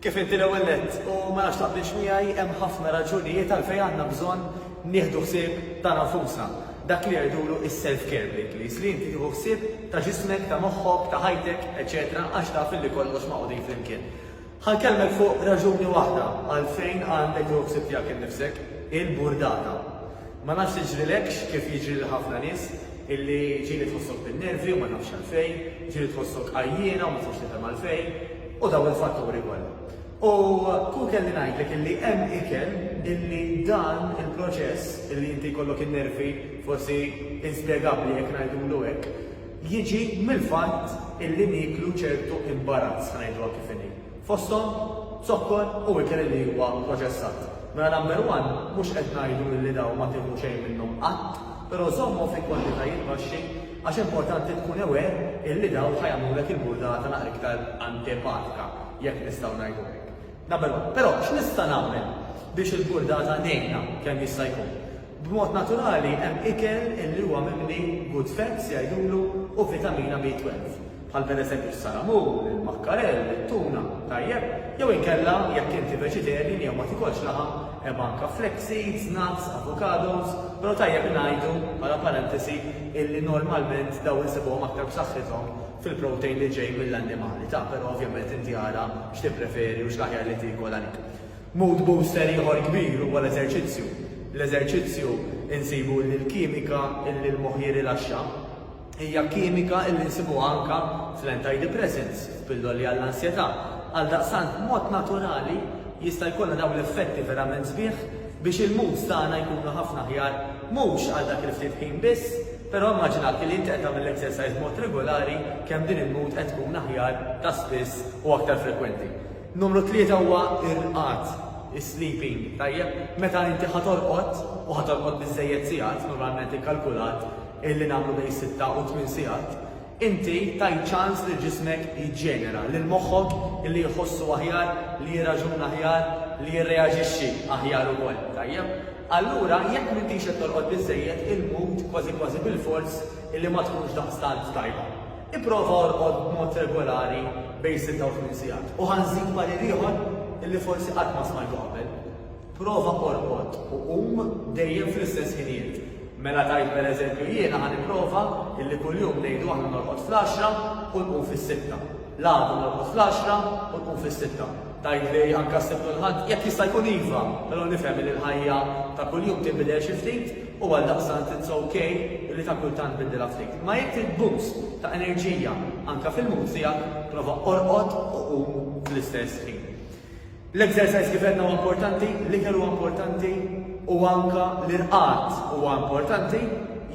Kif inti l-ewwel nett u ma nafx taqbilx miegħi hemm ħafna raġunijiet għalfejn għandna bżonn nieħdu ħsieb ta' nafusna. Dak li jgħidulu is-self care bl-Ingliż, li inti tieħu ħsieb ta' ġismek, ta' moħħok, ta' ħajtek, eċċetera għax taf illi kollox magħqudin flimkien. Ħa nkellmek fuq raġuni waħda għalfejn għandek tieħu ħsieb tiegħek innifsek, il-burdata. Ma nafx tiġrilekx kif jiġri lil ħafna nies, Illi ġieli tħossok bin-nervi u ma tafx għalfejn, ġieli tħossok għajjiena u ma tistax tifhem għalfejn, u dawn il-fatturi kollha. U kieku kelli ngħidlek illi hemm ikel illi dan il-proċess illi inti jkollok in-nervi forsi inspjegabbli jekk ngħidulu hekk, jiġi mill-fatt illi nieklu ċertu imbarazz, ħa ngħiduha kif inhi. fosthom zokkor u ikel li huwa proċessat. Mela number one, mhux qed ngħidu illi dawn ma tieħu xejn minnhom qatt, però żommhom fi kwantitajiet baxxi għax importanti tkun aware illi dawn ħa jagħmlulek il-burdata naqra iktar antipatika, jekk nistgħu ngħidu hekk. Number one. Però x'nista' nagħmel biex il-burdata ngħinha kemm jista' jkun? B'mod naturali hemm ikel li huwa mimli good fats jgħidulu u vitamina B12, bħal pereżempju s-salamun, il-makkarell, it-tuna, tajjeb? Jew inkella, jekk inti vegetarian jew ma tikolx laħam, hemm anka flax seeds, nuts, avocados, però tajjeb ngħidu, bħala parentesi, illi normalment dawn insibuhom aktar b'saħħithom fil-protein li ġej mill-annimali, ta' però ovvjament inti ara x'tippreferi u x'l-aħjar li tiekol għalik. Mood booster ieħor kbir huwa l-eżerċizzju. Bl-eżerċizzju nsibu illi l-kimika illi l-moħħ jirrilaxxa hija kimika illi nsibuha anke fl-antidepressants, f'pilloli għall-ansjetà. Għaldaqstant b'mod naturali jista' jkollna dawn l-effetti verament sbieħ biex il-moods tagħna jkunu ħafna aħjar mhux għal dak il-ftit ħin biss, però immaġina illi inti qed tagħmel l-exercise b'mod regulari kemm din il-mood qed tkun aħjar ta' spiss u aktar frekwenti. Numru tlieta huwa r-rqad, is-sleeping, tajjeb? Meta inti ħa torqod, u ħa torqod biżżejjed sigħat, normalment ikkalkulat li nagħmlu bejn sitta u tmien sigħat, inti tajt ċans lil ġismek jiġġenera, lil moħħok li jħossu aħjar, li jirraġuna aħjar, li jirreaġixxi aħjar ukoll, tajjeb? Allura jekk m'intix qed torqod biżżejjed, il-mood kważi kważi bilfors li ma tkunx daqstant tajba. Ipprova orqod b'mod regolari bejn sitta u tmien sigħat. U ħa nżid parir ieħor li forsi qatt ma smajtu qabel, prova orqod u qum dejjem fl-istess ħinijiet. Mela tgħid pereżempju jiena ħa nipprova li kuljum ngħidu aħna norqod fl-għaxra u nqum fis-sitta. L-għadu norqod fl-għaxra u nqum fis-sitta. Tgħid li anke s-Sibt u l-Ħadd? Jekk jista' jkun iva, però nifhem li l-ħajja ta' kuljum tinbidel xi ftit u għaldaqstant it's ok li ta' kultant biddilha ftit. Imma jekk trid boost ta' enerġija anke fil-mood tiegħek, prova orqod u qum fl-istess ħin. L-exercise kif għedna huwa importanti, l-ikel huwa importanti u anke l-irqad huwa importanti,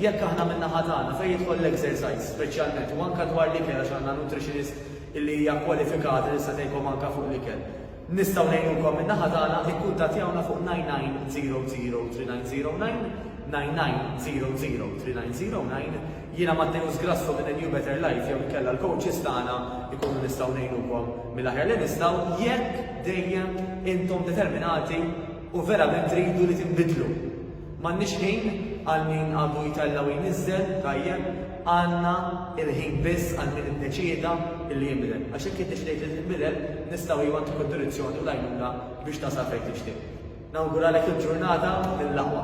jekk aħna min-naħa tagħna fejn jidħol l-exercise speċjalment u anke dwar l-ikel għax għandna nutritionist li hija kwalifikata li tista' tgħinkom anke fuq l-ikel. Nistgħu ngħinukom min-naħa tagħna, ikkuntattjawna fuq 99003909, 99003909. Jiena Matteus Grasso minn A New Better Life jew inkella l-coaches tagħna jkunu nistgħu ngħinukom mill-aħjar li nistgħu jekk dejjem intom determinati u verament tridu li tinbidlu. M'għandniex ħin għal min għadu jtella' u jniżżel, tajjeb, għandna l-ħin biss għal min iddeċieda li jinbidel. Għax jekk iddeċidejt li tinbidel, nistgħu iva ntuku d-direzzjoni u l-għajnuna biex tasal fejn tixtieq. Nawguralek il-ġurnata mill-aqwa.